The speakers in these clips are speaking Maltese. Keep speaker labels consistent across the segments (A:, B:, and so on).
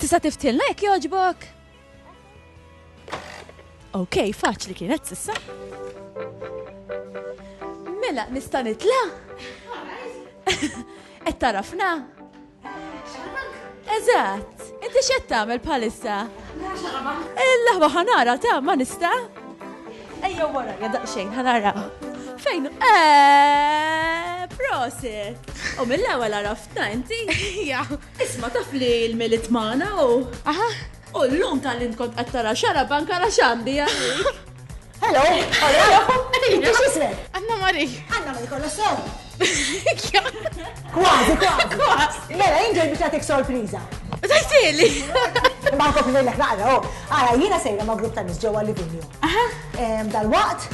A: Tista' tiftilna jekk jogħġbok? Ok, faċli kienet sissa. Mela, nista' nitla? Qed tarafna? Eżatt, inti x'qed tagħmel bħalissa? Il-laħba ħanara ta' ma nista'? Ejja wara, jadaq xejn ħanara. Fejn? Eh, prosit! U mill-ewwel għaraftna inti?
B: Isma' taf li
A: l-Milied magħna u. Aha. U
B: llum
A: talli int kont qed tara xarab anke ara x'għandi għalik. Hello!
C: Hello! Għadini x'ismek? Anna Mari. Anna Mari kollha
B: sew. Kważi, kważi. Mela,
C: jien ġej biex nagħtik sorpriża. Tajtili!
B: Ma
C: nkompli lejlek naqra, oh. Ara, jiena sejra ma' grupp ta' nis ġewwa Livigno. Dal-waqt,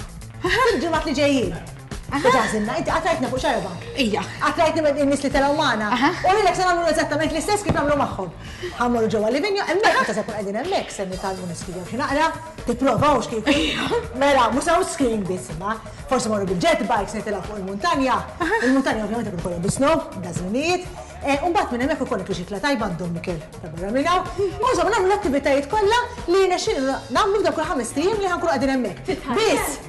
C: fil-ġimgħat li ġejjin. Ġażilna, inti qatrajtna fuq xarba. Ija. Qatrajtni
B: minn nies li
C: telgħu magħna. U lilek se nagħmlu eżattament l-istess kif nagħmlu magħhom. Ħammorru ġewwa l-livinja, hemmhekk meta se nkun qegħdin hemmhekk se nitgħallmu niskrivew xi naqra, tipprovaw x'kif. Mela, mhux hawn skiing biss imma. Forsi morru bil-jet bikes nitilgħu fuq il-muntanja. Il-muntanja ovvjament ikun kollha bisno, dażlinijiet. U mbagħad minn hemmhekk ikollok riċikla tajba għand Dom Mikel ta' barra minn hawn. U insomma nagħmlu l-attivitajiet kollha li jirnexxilna nagħmlu f'dawk il-ħamest ijiem li ħankunu qegħdin hemmhekk. Biss!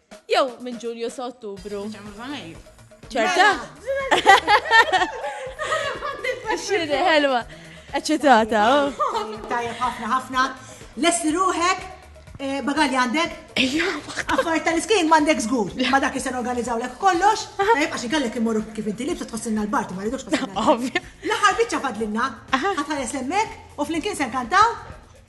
A: Jew minn Ġulju sa Ottubru. ċerta? Xiri, ħelwa. Eċċitata. Tajja
C: ħafna ħafna. Lesli ruħek, eh, bagalli għandek? Ejja, Affarijiet tal-iskin m'għandek żgur. Ma dak li se organizzaw lek kollox, tajjeb għax inkellek immorru kif inti libsa tħossilna l-barti ma rridux tħossilna. Ovvja. L-aħħar
B: biċċa fadlinna,
C: ħatħares hemmhekk u flimkien se nkantaw